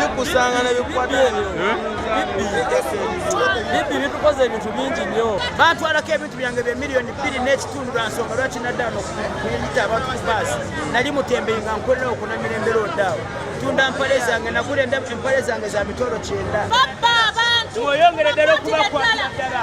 bikusanga ne bikwata ebyo bibbi bitukoze ebintu bingi nnyo bantwalako ebintu byange bye miliyoni bbiri n'ekitundu lwa nsonga lwaki naddala nokuyita abantu ku baasi nali mutembeyi nga nkolera okunamira embeera oddaawo tunda mpale zange nagula empale zange za mitolo kyenda oyongere ddala okubakwatira ddala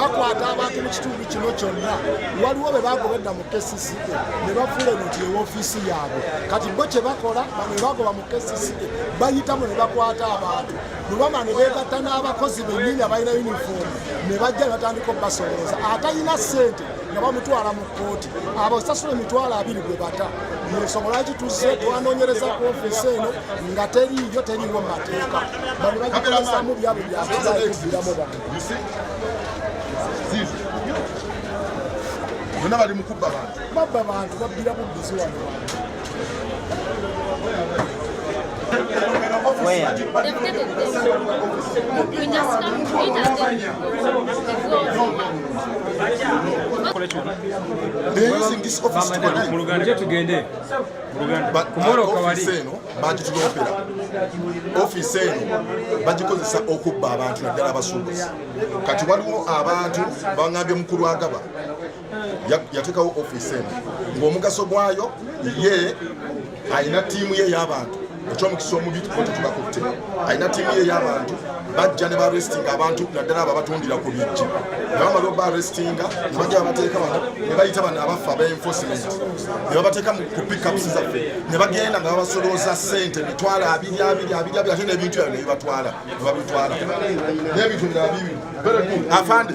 bakwata abantu mu kitundu kino kyonna waliwo be bagobedda mu kcca ne bafuula eno nti ewoofiisi yaabwe kati bo kye bakola bano ne bagoba mu kcca bayitamu ne bakwata abantu lubama ne beegatta n'abakozi bennyini abalina yunifoomu ne bajja ne batandika okubasolooza atalina ssente nga bamutwala mu kkooti abo sasula emitwalo abiri gwe bata ensonga lwaki tuzze twanonyereza ku ofisi eno nga teriiyo teriiwo mu mateeka bano bagikolezamu byabo byakuzaekubiramu bantu bonna bali mukubba bantu babba bantu babbira bubbizi wano Where? They've taken them. We just come to eat and then we go. They're using this office to connect. But our office eno bagitulopera office eno bagikozesa okubba abantu naddala abasuubuzi kati waliwo abantu bangambye mukulu agaba yatekawo office eno ng'omugaso gwayo ye alina tiimu ye y'abantu ekyomukisa omubi tukote tubakutte alina tiimu ye y'abantu bajja ne barestinga abantu naddala abo abatundira ku bijji nebamala oba restinga nebajja babateeka bano nebayita bano abaffe aba enforcement nebabateeka ku pickups zaffe nebagenda nga babasolooza sente mitwalo abiri abiri abiri abiri ate nebintu yabyo nebibatwala nebabitwala nebintu birala bibi afande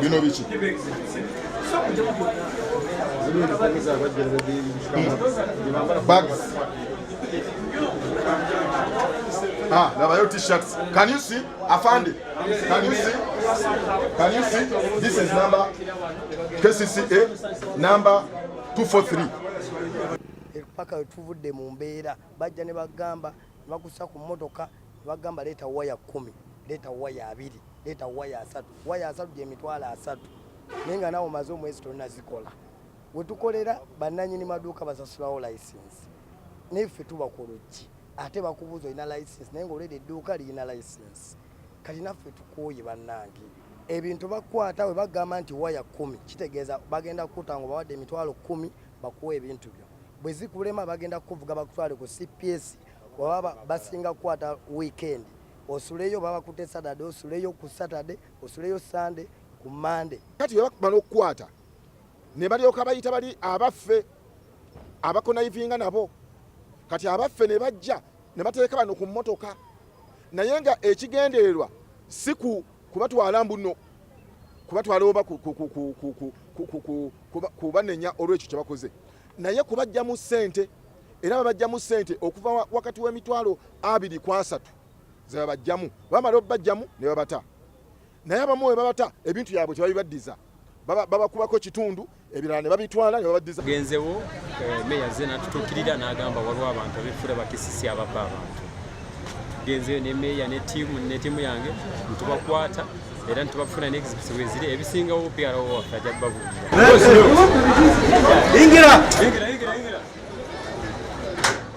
bino biki bags Ah, Navajo t-shirts. Can you see? Afande. Can you see? Can you see? This is number KCCA number 243. Paka tuvudde mu mbeera bajja ne bagamba bakusa ku mmotoka bagamba leeta waya kumi leeta waya abiri leeta waya asatu waya asatu gyemitwalo asatu naye nga nawe omaze omwezi tonazikola wetukolera bananyini maduuka basasulawo license naye ffe tuba ku luggi ate bakubuuza olina license naye ngaoleda edduuka lirina license kati naffe tukooye bannange ebintu bakwata we bagamba nti waya kumi kitegeeza bagenda kukuta nga obawadde emitwalo kumi bakuwa ebintu byo bwe zikulema bagenda kukuvuga bakutwale ku cps wababa basinga kukwata weekend osuleyo baba kute saturday osuleyo ku saturday osuleyo sunday ku monday kati bebakubala okukwata ne balyoka bayita bali abaffe abakonayivinga nabo kati abaffe ne bajja ne bateeka bano ku mmotoka naye nga ekigendererwa si ku kubatwala mbuno kubatwala oba kubanenya olwekyo kyebakoze naye kubajjamu sente era babajjamu sente okuva wakati w'emitwalo abiri ku asatu zebabajjamu bamala obubajjamu ne babata naye abamu we babata ebintu byabwe tebabibaddiza babakubako kitundu ebirala ne babitwala ne babaddiza genzewo eh, meya ze natutuukirira n'agamba waliwo abantu abefula bakisisi ababba abantu genzeyo ne meya ne tiimu ne tiimu yange ntubakwata era ntubafuna n'ekizibu eziri ebisingawo pyara wo waffe ajja kubabuulira